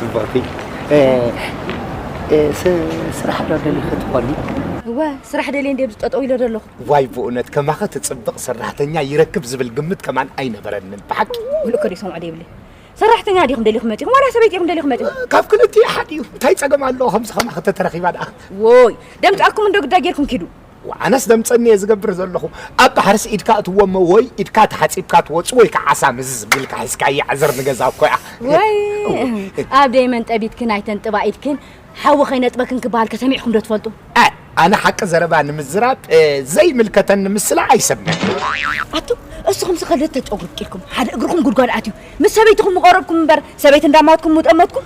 ጽብቕቲ ስራሕ ዶ ደሊኺ ትኾኒ? እወ ስራሕ ደልየ እንደ ኣብዚ ጠጠው ኢለ ዘለኹ ዋይ ብእውነት ከማኸ ትፅብቕ ሰራሕተኛ ይረክብ ዝብል ግምት ከማን ኣይነበረንን ብሓቂ ሙሉእ ከዲ ሰምዖ ደይብለይ ሰራሕተኛ ዲኹም ደሊኹም መፂኹም ዋላ ሰበይቲ ኢኹም ደሊኹም መፂኹም ካብ ክልቲኡ ሓደ እዩ እንታይ ፀገም ኣለዎ ከምዚ ከማኸ ተተረኺባ ደኣ ወይ ደምፃኩም እንዶ ግዳ ጌርኩም ኪዱ ኣነስ ደምፀኒ እየ ዝገብር ዘለኹ ኣብ ባሕርስ ኢድካ እትዎ እሞ ወይ ኢድካ ተሓፂብካ ትወፁ ወይ ከዓ ዓሳ ምዝዝ ቢልካ ሒዝካ ይዕዝር ንገዛ እኮ እያ ወይ ኣብ ደይመን ጠቢትክን ኣይተንጥባ ኢድክን ሓዊ ከይነጥበክን ክበሃል ከሰሚዕኩም ዶ ትፈልጡ ኣነ ሓቂ ዘረባ ንምዝራብ ዘይምልከተን ንምስላ ኣይሰብነን ኣቱ እስኹም ዝኸልት ተጨጉርቂልኩም ሓደ እግርኹም ጉድጓድ ኣትዩ ምስ ሰበይትኹም ምቐረብኩም እምበር ሰበይቲ እንዳማትኩም ሙጠመትኩም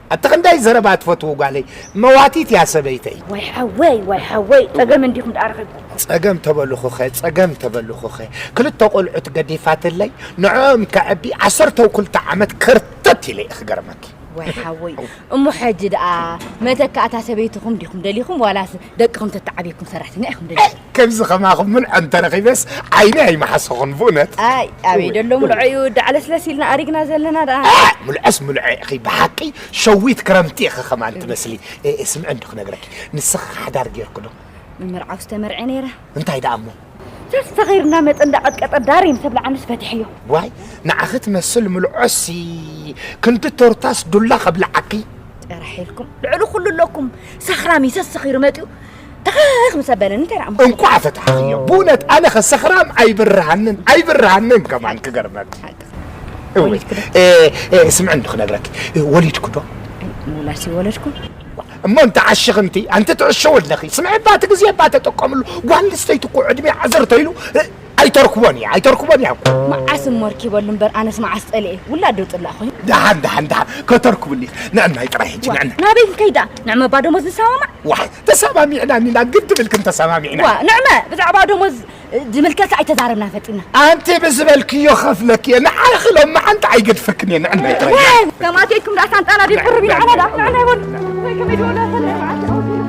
ኣቲ ክንደይ ዘረባ ትፈትዉ ጓለይ መዋቲት እያ ሰበይተይ። ዋይ ሓወይ ዋይ ሓወይ ጸገም እንዲኹም ደኣ ረኺብኩም። ጸገም ተበልኹኸ ጸገም ተበልኹኸ ክልተ ቆልዑት ገዲፋትለይ ንዕኦም ከዕቢ ዓሰርተው ክልተ ዓመት ከርተት ኢለ እየ ክገርመኪ። ዋይ ሓወይ እሞ ሕጂ ደኣ መተካእታ ሰበይትኹም ዲኹም ደሊኹም ዋላስ ደቅኹም ተተዓብየኩም ሰራሕተኛ ኢኹም ደሊኹም። ከምዚ ከማኹም ምልዖ እንተረኺበስ ዓይነይ ኣይምሓሰኹን ብእውነት። ኣይ ኣበይ ደሎ ምልዖ እዩ ዳዕለስለስ ኢልና ኣሪግና ዘለና ደኣ። ምልዖስ ምልዖ ኢኺ ብሓቂ ሸዊት ክረምቲ ኢኺ ከማን ትመስሊ። ስምዒ እንዶ ክነግረኪ ንስኺ ሓዳር ጌርኪ ዶ? ምምርዓው ዝተመርዐ ነይረ። እንታይ ደኣ እሞ ጃስ ሰኺር እናመፀ እንዳቐጥቀጠ ዳሪ ምስ ኣብልዓንስ ፈቲሐዮ። ዋይ ንዓኺ ትመስል ምልዖሲ ክንዲ ቶርታስ ዱላ ከብልዓኪ። ጥራሕ ኢልኩም ልዕሊ ኩሉ ኣለኩም ሰኽራም እዩ ሰሲኺሩ መፂኡ ተኸኽ ምስ ኣበለን እንታይ ረኣምኩ እንኳዕ ፈታሕኽዮ ብእውነት ኣነ ከ ሰኽራም ኣይብርሃንን ኣይብርሃንን ከማን ክገርመክ እውይ ስምዕ እንዶ ክነግረክ ወሊድኩ ዶ ሙላሲ ወለድኩ እሞ እንተ ዓሽኽ እንቲ ኣንቲ ትዕሸው ኣለኺ ስምዕ ባቲ ግዜ እባ ተጠቀምሉ ጓል ኣንስተይቲ እኮ ዕድሜ ዓዘርተ ኢሉ ኣይተርክቦን እያ ኣይተርክቦን እያ እኮ መዓስ እሞ ኣርኪበሉ እምበር ኣነስ መዓስ ጸሊኤ ውላድ ዶ ጽላእ ኮይኑ ደሓን ደሓን ደሓን ከተርክብሉ እያ ንዕናይ ጥራይ ሕጂ ንዕና ናበይ ክንከይድ ደኣ ንዕመባ ደሞዝ ንሰማማዕ ዋይ ተሰማሚዕና እኒና ግን ትብልክን ተሰማሚዕና ዋ ንዕመ ብዛዕባ ደሞዝ ዝምልከት ኣይተዛረብና ፈጢና ኣንቲ ብዝበልክዮ ከፍለክ እየ ንዓይ ክሎም መዓንቲ ኣይገድፈክን እየ ንዕናይ ጥራይ ከማትየኩም ደኣ ሳንጣና ድብ ቅርብ ኢልዓና ደኣ ንዕና ይበሉ ከመይ ድበሉ